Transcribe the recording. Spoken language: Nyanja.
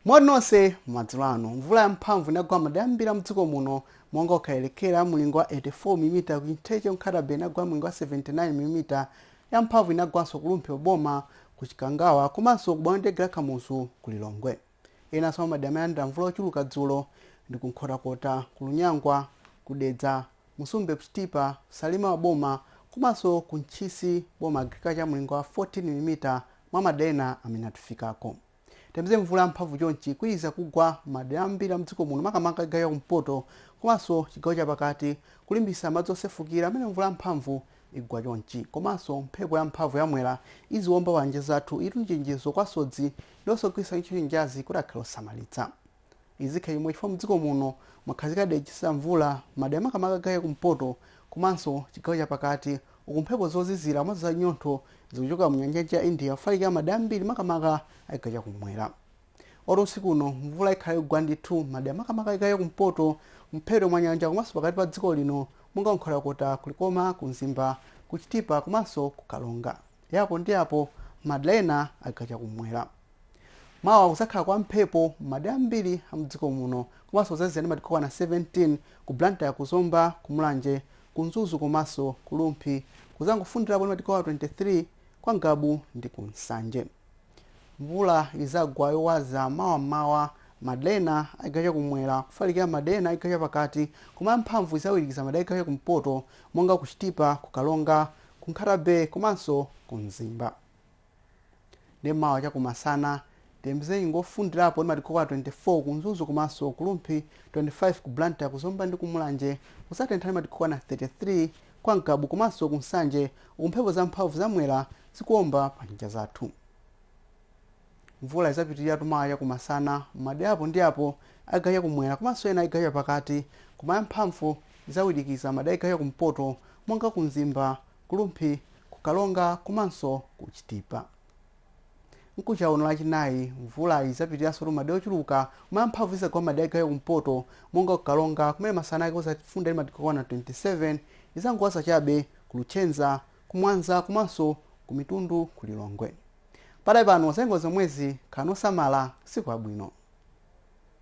moni nonse madzulo ano mvula yamphamvu inagwa madera ambiri a mdziko muno monga ku Kwelekera mlingo wa 84 mm ku Chintheche Nkhata Bay inagwa mlingo wa 79 mm yamphamvu inagwanso ku Rumphi boma ku chikangawa komanso ku bwalo la ndege la Kamuzu ku lilongwe Enanso mwa madera amene alandira mvula yochuluka dzulo ndi ku Nkhotakota, ku Lunyangwa, ku Dedza, Msumbe ku Chitipa, Salima boma komanso ku Ntchisi boma Agriculture mlingo wa 14 milimita mwa madera ena amene atifikako. Tiyembekezere mvula yamphamvu chonchi ikuwirikiza kugwa m'madera ambiri a mdziko muno makamaka chigawo cha kumpoto komanso chigawo chapakati kulimbikitsa madzi osefukira amene mvula yamphamvu igwa chonchi. Komanso mphepo ya mphamvu ya mwera iziwomba pa nyanja zathu iyitu nichenjezo kwa asodzi ndi onse ogwiritsa ntchito nyanjazi kuti akhale osamalitsa. Izikhala chomwechi chifukwa mdziko muno mwakhazika dera lotsitsa mvula madera makamaka a chigawo cha kumpoto komanso chigawo cha pakati uku mphepo zozizira komanso za nyontho zikuchokera mu nyanja ya India kufalikira madera ambiri makamaka a chigawo cha kummwera. Moti usiku uno mvula ikhala yogwa ndithu madera makamaka a chigawo cha kumpoto mphepete mwa nyanja komanso pakati pa dziko lino monga kunkhotakota kulikoma ku mzimba ku chitipa komanso ku Karonga ya apo ndi apo madera ena a chigawo chakumwera mawa kuzakhala kwa mphepo m'madera ambiri a mdziko muno komanso kuzazizira ndi madigiri okwana 17 ku blantyre ku zomba ku mulanje ku mzuzu komanso ku rumphi kuzangofundirapo ndi madigiri okwana 23 kwa ngabu ndi ku nsanje Mvula izagwa yowaza mawa m'mawa madera ena a chigawo chakumwera kufalikira madera ena a chigawo chapakati koma yamphamvu izawirikiza madera a chigawo chakumpoto monga ku Chitipa, ku Karonga, ku Nkhata Bay komanso ku Mzimba. Ndipo mawa chakumasana, tiyembekezere nyengo yofundirapo ndi madigiri okwana 24 ku Mzuzu komanso ku Rumphi, 25 ku Blantyre, ku Zomba ndi ku Mulanje kudzatentha ndi madigiri okwana 33 Kwa Ngabu komanso ku Nsanje uku mphepo za mphamvu za Mwera zikuomba pa nyanja zathu. Mvula izapitilirabe mawa chakumasana m'madera apo ndi apo a chigawo cha kumwera komanso ena a chigawo cha pakati koma ya mphamvu izawirikiza madera a chigawo cha kumpoto monga ku Mzimba, ku Rumphi, ku Karonga komanso ku Chitipa. Mkucha uno lachinayi, mvula idzapitiriranso m'madera ochuluka koma yamphamvu idzagwa mmadera a chigawo chakumpoto monga ku Karonga kumene masana ake kudzafunda ndi madigiri okwana 27 idzangowaza chabe ku Luchenza, ku Mwanza komanso ku Mitundu ku Lilongwe. Pakadali pano zanyengo ndi zomwezi khalani osamala usiku wabwino.